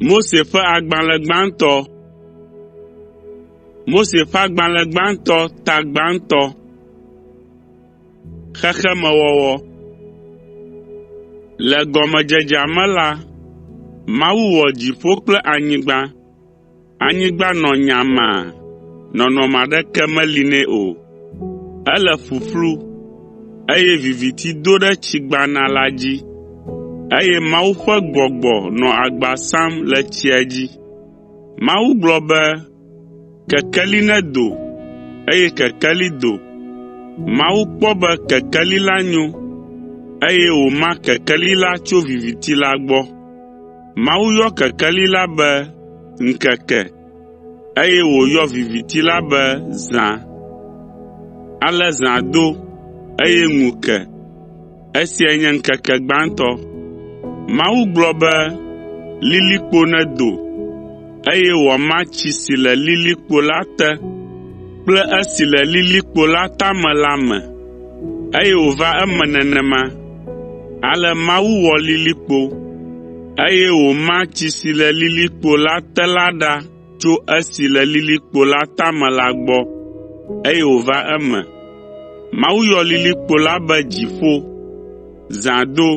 Mose ƒe agbalẽ gbãtɔ Mose ƒe agbalẽ gbãtɔ ta gbãtɔ Xexemewɔwɔ Le gɔmedzedzea me la, Mawu wɔ dziƒo kple anyigba. Anyigba nɔ nyamaa, nɔnɔme aɖeke meli nɛ o. Ele ƒuƒlu, eye viviti do ɖe tsigbana la dzi, eye Mawu ƒe gbɔgbɔ nɔ agba sam le tsia dzi. Mawu gblɔ be, “Kekeli nedo,” eye kekeli do. Mawu kpɔ be kekeli la nyo, eye wòma kekeli la tso viviti la gbɔ. Mawu yɔ kekeli la be ŋkeke, eye wòyɔ viviti la be zã. Ale zã do, eye ŋu ke. Esiae nye ŋkeke gbãtɔ. Mawu gblɔ be, “Lilikpo nedo,” eye wòama tsi si le lilikpo la te kple esi le lilikpo la tame la me. Eye wòva eme nenema. Ale Mawu wɔ lilikpo, eye wòma tsi si le lilikpo la te la ɖa tso esi le lilikpo la tame la gbɔ, eye wòva eme. Mawu yɔ lilikpo la be “dziƒo.” Zã do.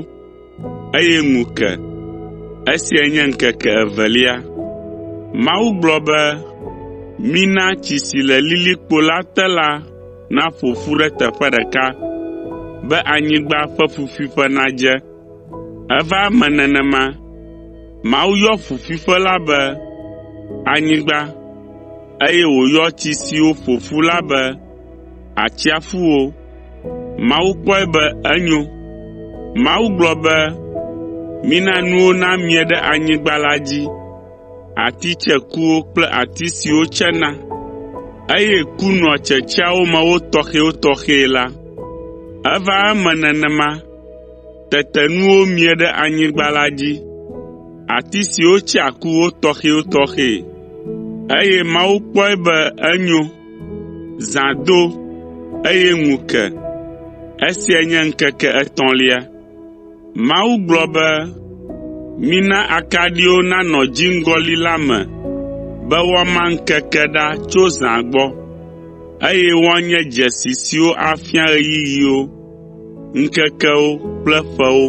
eye ŋu ke. Esiae nye ŋkeke evelia. Mawu gblɔ be, “Mina tsi si le lilikpo la te la naƒo ƒu ɖe teƒe ɖeka be anyigba ƒe ƒuƒuiƒe nadze.” Eva eme nenema. Mawu yɔ ƒuƒuiƒe la be “anyigba” eye wòyɔ tsi siwo ƒo ƒu la be atsiaƒuwo. Mawu kpɔe be enyo. Mawu gblɔ be, “Mina nuwo namie ɖe anyigba la dzi, ati tsekuwo kple ati siwo tsena, eye ku nɔa tsetseawo me wo tɔxɛtɔxɛ la.” Eva eme nenema. Tete nuwo mie ɖe anyigba la dzi, ati siwo tsea ku wo tɔxɛtɔxɛ, eye Mawu kpɔe be enyo. Zã do, eye ŋu ke. Esia nye ŋkeke etɔ̃lia. Mawu gblɔ be, “Mina akaɖiwo nanɔ dziŋgɔli la me be woama ŋkeke ɖa tso zã gbɔ, eye woanye dzesi siwo afia ɣeyiɣiwo, ŋkekewo kple ƒewo,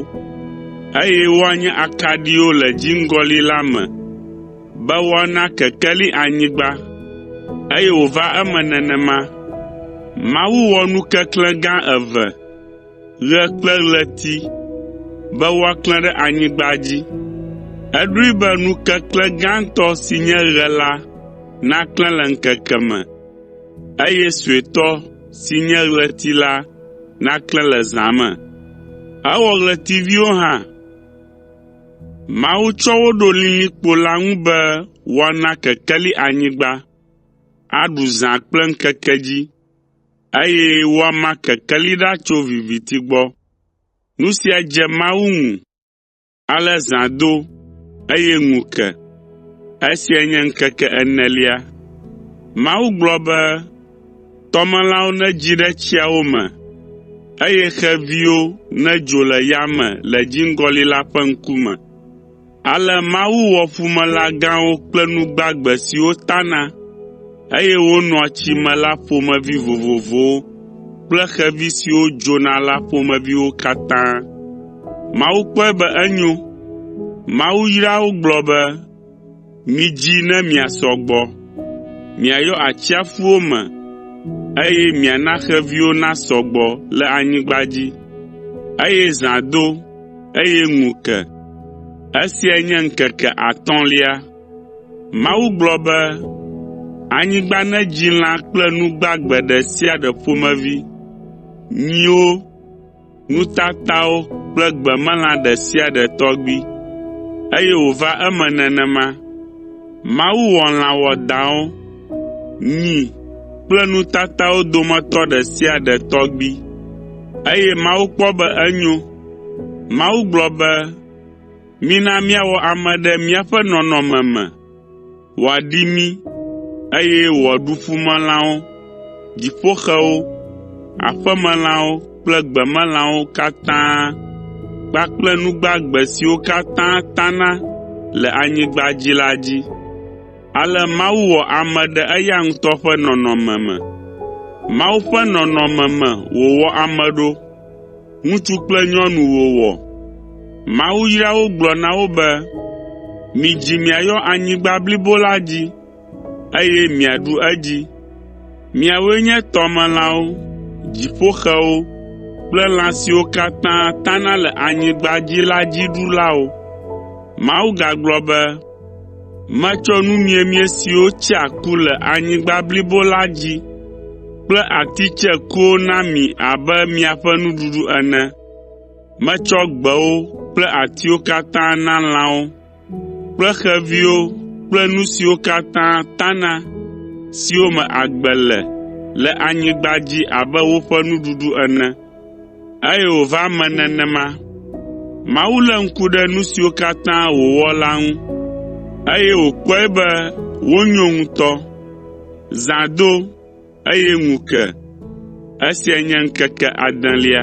eye woanye akaɖiwo le dziŋgɔli la me. Be woana kekeli anyigba, eye wòva eme nenema. Mawu wɔ nu keklẽ gã eve, ɣe kple ɣleti, be woaklẽ ɖe anyigba dzi. Eɖoe be nu keklẽ gãtɔ si nye ɣe la naklẽ le ŋkeke me, eye suetɔ si nye ɣleti la naklẽ le zã me. Ewɔ ɣletiviwo hã. “Mawu tsɔ wo ɖo lilikpo la ŋu be woana kekeli anyigba, aɖu zã kple ŋkeke dzi, eye woama kekeli ɖa tso viviti gbɔ. Nu sia dze Mawu ŋu, ale zã do, eye ŋu ke. Esiae nye ŋkeke enelia.” Tɔmelãwo nedzi ɖe tsiawo me, eye xeviwo nedzo le yame le dziŋgɔli la ƒe ŋkume. Ale Mawu wɔ ƒumelã gãwo kple nu gbagbe siwo tana, eye wonɔa tsi me la ƒomevi vovovowo kple xevi siwo dzona la ƒomeviwo katã. Mawu kpɔe be enyo. Mawu yra wo gblɔ be, Midzi ne miasɔ gbɔ. Miayɔ atsiaƒuwo me, eye miana xeviwo nasɔ gbɔ le anyigba dzi, eye zã do, eye ŋu ke. Esiae nye ŋkeke atɔ̃lia. Mawu gblɔ be, “Anyigba nedzi lã kple nu gbagbe ɖe sia ɖe ƒomevi, nyiwo, nutatawo kple gbemelã ɖe sia ɖe tɔgbi, eye wòva eme nenema. Mawu wɔ lã wɔadãwo, nyi kple nutatawo dometɔ ɖe sia ɖe tɔgbi, eye Mawu kpɔ be enyo. Mawu gblɔ be, “Mina míawɔ ame ɖe míaƒe nɔnɔme me.” Wòaɖi mí, eye wòaɖu ƒumelãwo, dziƒoxewo, aƒemelãwo kple gbemelãwo katã kpakple nu gbagbe siwo katã tana le anyigba dzi la dzi. Ale Mawu wɔ ame ɖe eya ŋutɔ ƒe nɔnɔme me. Mawu ƒe nɔnɔme me wòwɔ ame ɖo, Ŋutsu kple nyɔnu wòwɔ. Mawu yra wo gblɔ na wo be, “Midzi miayɔ anyigba blibo la dzi, eye miaɖu edzi. Miawoe nye tɔmelãwo, dziƒoxewo kple lã siwo katã tana le anyigba dzi la dziɖulawo.” Mawu gagblɔ be, Metsɔ nu miemie siwo tsea ku le anyigba blibo la dzi kple ati tsɛ kuwo na mi abe miaƒe nuɖuɖu ene. Metsɔ gbewo kple atiwo katã na lãwo kple xeviwo kple nu siwo katã tana siwo me agbe le le anyigba dzi abe woƒe nuɖuɖu ene. Eye wòva eme nenema. Mawu lé ŋku ɖe nu siwo katã wòwɔ la ŋu, eye wòkpɔe be wonyo ŋutɔ. Zã do, eye ŋu ke. Esiae nye ŋkeke adelia.